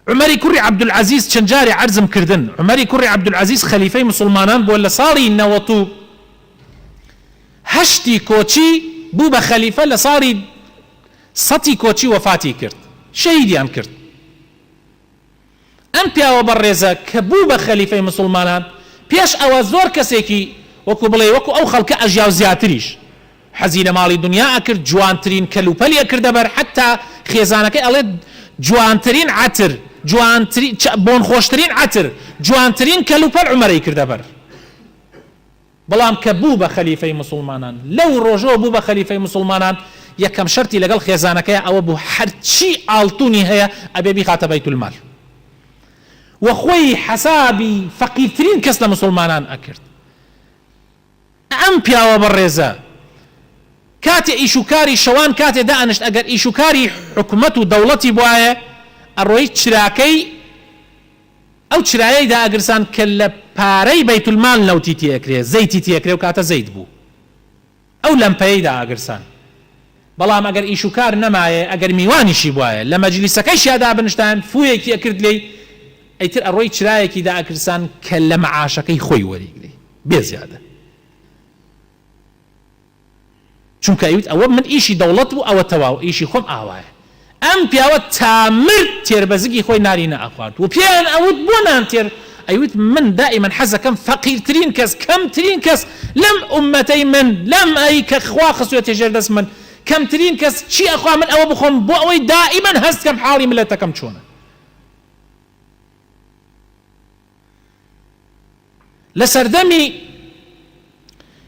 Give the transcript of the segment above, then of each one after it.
عومەری کوڕی عەبدولعەزیز چەند جارێ عەرزم کردن عومەری کوڕی عەبدولعەزیز خەلیفەی موسوڵمانان بووە لە ساڵی نەوەت و هەشتی کۆچی بوو بە خەلیفە لە ساڵی سەتی کۆچی وەفاتی کرد شەهیدیان کرد ئەم پیاوە بەڕێزە کە بوو بە خەلیفەی موسوڵمانان پێش ئەوە زۆر کەسێکی وەکو بڵێ وەکو ئەو خەڵکە ئەژیا و زیاتریش حەزی لە ماڵی دنیا ئەکرد جوانترین کەل و پەلی ئەکردە بەر حەتا خێزانەکەی ئەڵێت جوانترین عەتر جوانترین چ بۆن خۆشترین عەتر جوانترین کەل و پەل عومەر ئەیکردە بەر بەڵام کە بوو بە خەلیفەی موسڵمانان لەو ڕۆژەوە بوو بە خەلیفەی موسڵمانان یەکەم شەرتی لەگەڵ خێزانەکەیا ئەوە بوو هەرچی ئاڵتونی هەیە ئەبێ بیخاتە بەیت المال وە خۆی حەسابی فەقیرترین کەس لە موسڵمانان ئەکرد ئەم پیاوە بەڕێزە کاتێ ئیش و کاری شەوان کاتێ دائەنشت ئەگەر ئیش و کاری حکومەت و دەوڵەتی بوایە ئەڕۆیی چراکەی ئەو چرایەی دائەگرسان کە لە پارەی بەیت المال نەوتی تێ ئەکرێ زەیتی تێ ئەکرێ ئەو کاتە زەیت بوو ئەو لەمپەیەی دائەگرسان بەڵام ئەگەر ئیش و کار نەمایێ ئەگەر میوانیشی بوایە لە مەجلیسەکەیشیا دابنشتایەن فوویەکی ئەکرد لێی ئیتر ئەڕۆیی چرایەکی دائەکرسان کە لە مەعاشەکەی خۆی وەریگرێ. بێ زیادە چونکە ئەیوت ئەوە من ئیشی دەوڵەت بوو ئەوە تەواو ئیشی خۆم ئاوایە ئەم پیاوە تا مرد تێربەزگی خۆی نانی نەئەخوارد و پێیان ئەوت بۆ نان تێر ئەیوت من دائیمەن حەزەکەم فەقیرترین کەس کەمترین کەس لەم ئوممەتەی من لەم ئەی کە خوا خستوێتە ژێر دەست من کەمترین کەس چی ئەخوا من ئەوە بخۆم بۆ ئەوەی دائیمەن هەست کەم حاڵی ملەتەکەم چۆنە. لە سەردەمی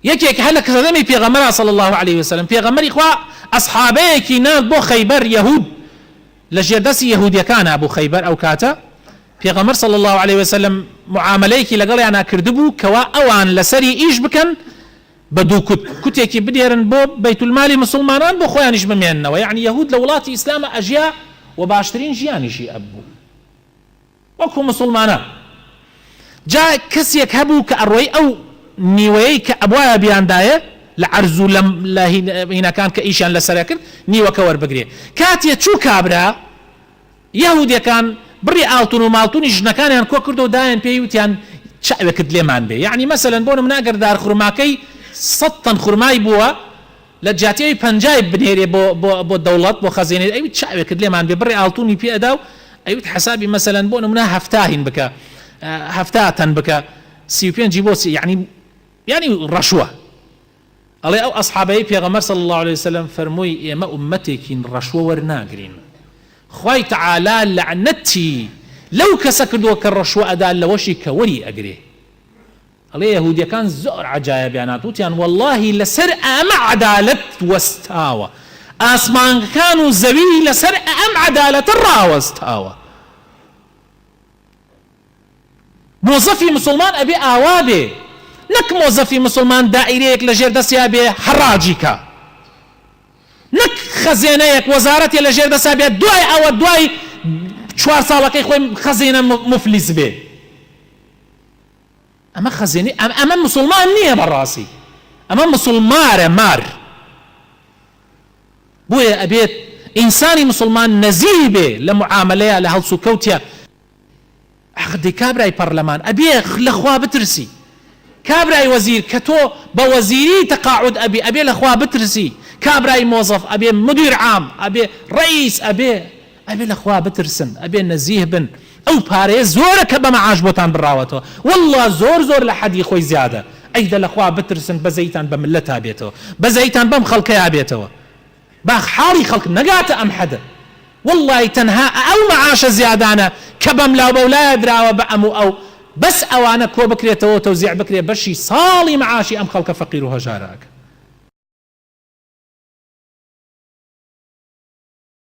یەکێک هەر لە سەردەمی پێغەمبەر صلی الله علیه و سلم پێغەمبەری خوا ئەصحابەیەکی نارد بۆ خەیبەر یەهود لە ژێر دەستی یەهودیەکان هەبوو خەیبەر ئەو کاتە پێغەمبەر صلی الله علیه و سلم معاملەیەکی لەگەڵیان کردبوو کەوا ئەوان لەسەری ئیش بکەن بە دوو کوت کوتێکی بدێرن بۆ بیت المالی مسلمانان بۆ خۆیانیش بمێننەوە یعنی یەهود لە وڵاتی ئیسلامە ئەژیا و باشترین ژیانیشی ئەبوو وەکو موسوڵمانان جا کەسیەک هەبوو کە ئەڕۆی ئەو نیوەیەی کە ئەبوایە بیاندایە لە عەرز و لەم لە هینەکان کە ئیشیان لەسەر ئەکرد نیوەکە وەربگرێ کاتیە چوو کابرا یەهودیەکان بڕی ئاڵتون و ماڵتونی ژنەکانیان کۆ کردو و دایان پێی وتیان چاوێکت لێمان بێ یەعنی مەسەلەن بۆ نمونە ئەگەر دار خورماکەی سەد تەن خورمای بووە لە جیاتی ئەوی پەنجای بنێرێ بۆ بۆ بۆ دەوڵەت بۆ خەزێنەی ئەویت چاوێکت لێمان بێ بڕێ ئاڵتونی پێ ئەدا و ئەویت حەسابی مەسەلەن بۆ نمونە هەفتا هین بکە هەفتا تەن بکە سی و پێنجی بۆ چی یعنی یعنی ڕەشوە ئەڵێ ئەو ئەصحابەی پێغەمبەر صلی الله عليه وسلم فەرمووی ئێمە ئومەتێکین ڕەشوە وەرناگرین خوای تعالی لەعنەتی لەو کەسە کردووە کە ڕەشوە ئەدا لەوەشی کە وەری ئەگرێ ئەڵێ یەهودیەکان زۆر عەجایەبیان هات وتیان وەڵاهی لەسەر ئەئەمە عەدالەت وەستاوە ئاسمانگکان و زەوی لەسەر ئەئەم عەدالەتە ڕاوەستاوە مۆزەفی مسوڵمان ئەبێ ئاوا بێ نەک مۆزەفی مسوڵمان دائیرەیەک لە ژێر دەسیا بێ حەڕاجی کا نەک خەزێنەیەک وەزارەتێ لە ژێر دەسا بێ دوای ئەوە دوای چوار ساڵەکەی خۆی خەزینە مفلیس بێ ئەمە خەزێنەی ئەم ئەمە مسوڵمان نییە بەڕاستی ئەمە مسوڵمارە مار بۆیە ئەبێت ئینسانی مسلمان نەزیری بێ لە معاملەیە لە هەڵسو کەوتە عقدی کابرای پەرلەمان ئەبێ لەخوا بترسی کابرای وەزیر کە تۆ بە وەزیری تەقاعد ئەبی ئەبێ لەخوا بترسی کابرای مۆزەف ئەبێ مدیر عام ئەبێ ڕئیس ئەبێ ئەبێ لە خوا بترسن ئەبێ نەزیه بن ئەو پارەیە زۆرە کە بە مەعاش بۆتان بڕاوەتەوە واللە زۆر زۆر لە حەدی خۆی زیادە ئەی دە لە خوا بترسن بەزەیتان بە مللەتا بێتەوە بەزەیتان بەم خەڵکەیا بێتەوە باخ حاڵی خەڵک نەگاتە ئەم حەدە واللە تەنها ئە ئەو مەعاشە زیادانە کە بەملاو بەولایا دراوە بە ئەم و ئەو بەس ئەوانە کۆ بکرێتەوەو تەوزیع بکرێ بەشی ساڵی مەعاشی ئەم خەڵکە فەقیر و هەژارە ئەکا.